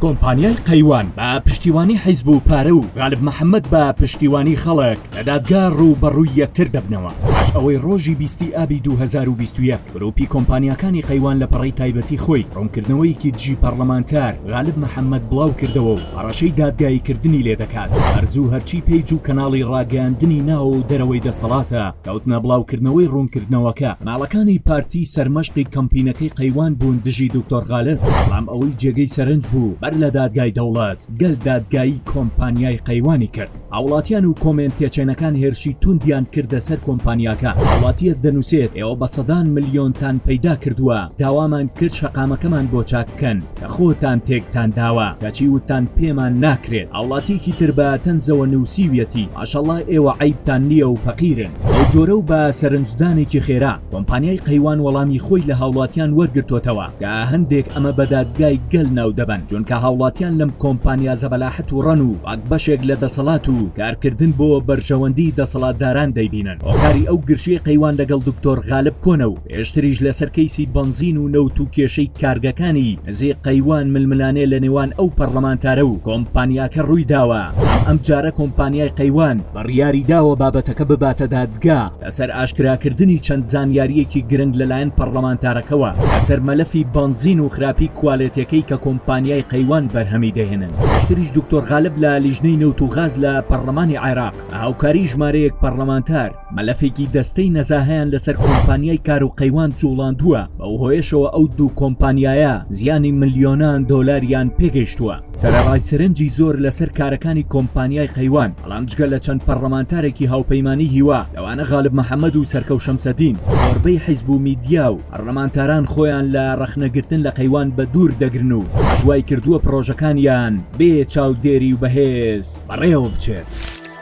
کۆمپانیای قەیوان بە پشتیوانی حیزب و پارە و غالب محەمەد بە پشتیوانی خەڵک لە دادگا ڕووبەڕووی یەکتر دەبنەوە پاش ئەوەی ڕۆژی بیستی ئابی دوو هەزار و بیست و یەک گرووپی کۆمپانیاکانی قەیوان لە پەڕەی تایبەتی خۆی ڕوونکردنەوەیەکی دژی پەڕڵەمانتار غالب محەمەد بڵاوکردەوە و هەڕەشەی دادگاییکردنی لێدەکات ئەرزوو هەرچی پەیج و کەناڵی ڕاگەیاندنی ناو و دەرەوەی دەسەڵاتە کەوتنە بڵاوکردنەوەی ڕوونکردنەوەکە، ماڵەکانی پارتی سەرمەشقی کەمپینەکەی قەیوان بوون دژی دکتۆر غالب، بەڵام ئەوەی جێگەی سەرنج بوو بەر لە دادگای دەوڵەت، گەل دادگایی کۆمپانیای قەیوانی کرد. هاوڵاتیان و کۆمێنت تێچێنەکان هێرشی توندیان کردە سەر کۆمپانیاکە، هاوڵاتیەک دەنوسێت ئێوە بە سەدان ملیۆنتان پەیدا کردووە، داوامان کرد شەقامەکەمان بۆ چاک بکەن، خۆتان تێکتان داوە کەچی وتتان پێمان ناکرێت هاوڵاتیەکی تر بە تەنزەوە نوسیویەتی ماشەڵا ئێوە عەیبتان نیە و فەقیرن بەو جۆرە و بە سەرنجدانێکی خێرا کۆمپانیای قەیوان وەڵامی خۆی لە هاوڵاتیان وەرگرتۆتەوە کە هەندێک ئەمە بە دادگای گەل ناو دەبەن چونکە هاوڵاتیان لەم کۆمپانیا زەبەلاحەت و ڕەن و وەک بەشێک لە دەسەڵات و کارکردن بۆ بەرژەوەندی دەسەڵاتداران دەیبینن هۆکاری ئەو گرژیەی قەیوان لەگەڵ دکتۆر غالب کۆنە و پێشتریش لەسەر کەیسی بەنزین و نەوت و کێشەی کارگەکانی زێ قەیوان ململانێ لە نێوان ئەو پەرلەمانتارە و کۆمپانیاکە ڕووی داوە، ئەمجارە کۆمپانیای قەیوان بڕیاری داوە بابەتەکە بباتە دادگا لەسەر ئاشکراکردنی چەند زانیارییەکی گرنگ لەلایەن پەرلەمانتارەکەوە لەسەر مەلەفی بەنزین و خراپی کوالێتێکەی کە کۆمپانیای قەیوان بەرهەمی دەهێنن. پێشتریش دکتۆر غالب لە لیژنەی نەوت و غاز لە پەرلەمانی عێراق بە هاوکاری ژمارەیەک پەرلەمانتار، مەلەفێکی دەستەی نەزاهەیان لەسەر کۆمپانیای کار و قەیوان جوڵاندووە بەو هۆیشەوە ئەو دوو کۆمپانیایە زیانی ملیۆنان دۆلاریان پێگەیشتووە سەرڕای سرنجی زۆر لەسەر کارەکانی کۆمپانیای قەیوان بەڵام جگە لە چەند پەرلەمانتارێکی هاوپەیمانی هیوا لەوانە غالب محەممەد و سەرکەو شەمسەدین زۆربەی حیزب و میدیا و پەرلەمانتاران خۆیان لە ڕەخنەگرتن لە قەیوان بە دوور دەگرن و ژوای کردووە پرۆژەکانیان بێ چاودێری و بەهێز بەڕێوە بچێت.